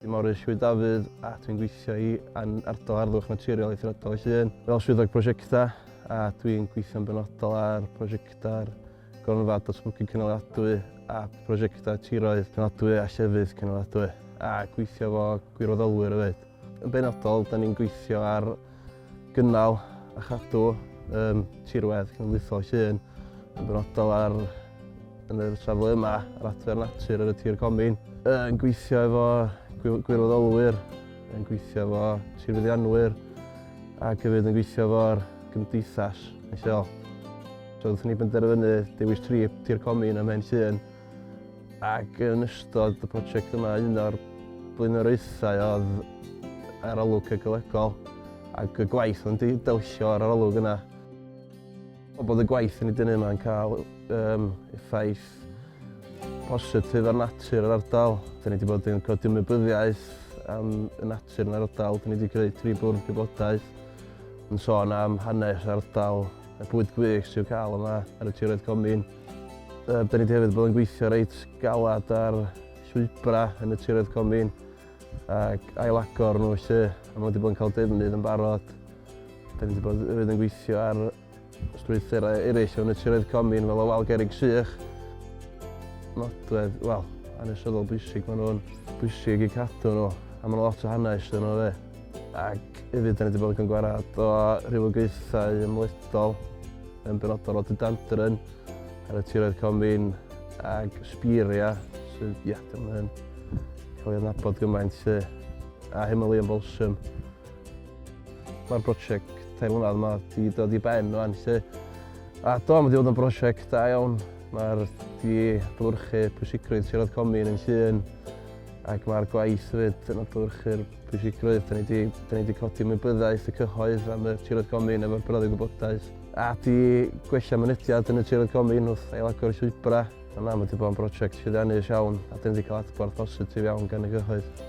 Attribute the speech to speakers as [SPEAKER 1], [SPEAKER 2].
[SPEAKER 1] Ym Morris yw Dafydd a dwi'n gweithio i Ardal Harddwch Naturiol Eithriadol y Llŷn fel Swyddog Prosiectau a dwi'n gweithio'n benodol ar prosiectau'r Gronfa Datblygu Cynaliadwy a prosiectau tiroedd penodwy a llefydd cynaliadwy a gweithio efo gwirfoddolwyr hefyd. Yn benodol, da ni'n gweithio ar gynnal a chadw um, tirwedd cenedlaethol Llŷn yn benodol ar yn yr safle yma ar adfer natur ar y tir comin. Yn gweithio efo gwirfoddolwyr, yn gweithio efo tirfeddianwyr ac hefyd yn gweithio efo'r gymdeithas yn lleol. So, wnaethon ni benderfynu dewis trip tir comin ym Mhen Llŷn Ac yn ystod y prosiect yma, un o'r blaenoriaethau oedd arolwg ecolegol ac y gwaith o'n di delsio ar arolwg yna. O bod y gwaith yn ei dynnu yma'n cael um, effaith positif ar natur yr ardal. Da ni wedi bod yn codi ymwybyddiaeth am y natur yn yr ardal. Da ni wedi creu tri bwrdd gwybodaeth yn sôn am hanes ardal y bwyd gwych sy'n cael yma ar y tiroedd comin. Yy, da ni wedi hefyd bod yn gweithio reit galad ar llwybra yn y tiroedd comin ac ailagor nhw felly, a mae wedi bod yn cael defnydd yn barod. Da ni wedi bod hefyd yn gweithio ar strwythurau eraill yn y tiroedd comin fel y wal gerig sych. Nodwedd, wel, anesyddol bwysig maen nhw'n bwysig i cadw nhw, a maen nhw lot o hanes dyn nhw fe. Ac hefyd, da ni wedi bod yn cyngwared o rhywogaethau ymledol yn benodol o dydandryn ar y tiroedd comin ag sbiria sydd ia, ddim yn cael ei adnabod gymaint lle a Himalayan Balsam. Mae'r brosiect tair mlynedd yma wedi dod i ben o'n lle a do, mae wedi bod yn brosiect da iawn. Mae'r di adlywyrchu pwysigrwydd siarad comin yn llun ac mae'r gwaith hefyd yn adlywyrchu'r Pwysigrwydd, da ni di, da ni di codi ymwybyddiaeth y cyhoedd am y tiroedd gomin efo'r broddi gwybodaeth. A di gwella mynediad yn y tiroedd gomin wrth ailagor y llwybra. A na, mae wedi bod yn brosiect llwyddiannus iawn a da ni wedi cael adborth positif iawn gan y cyhoedd.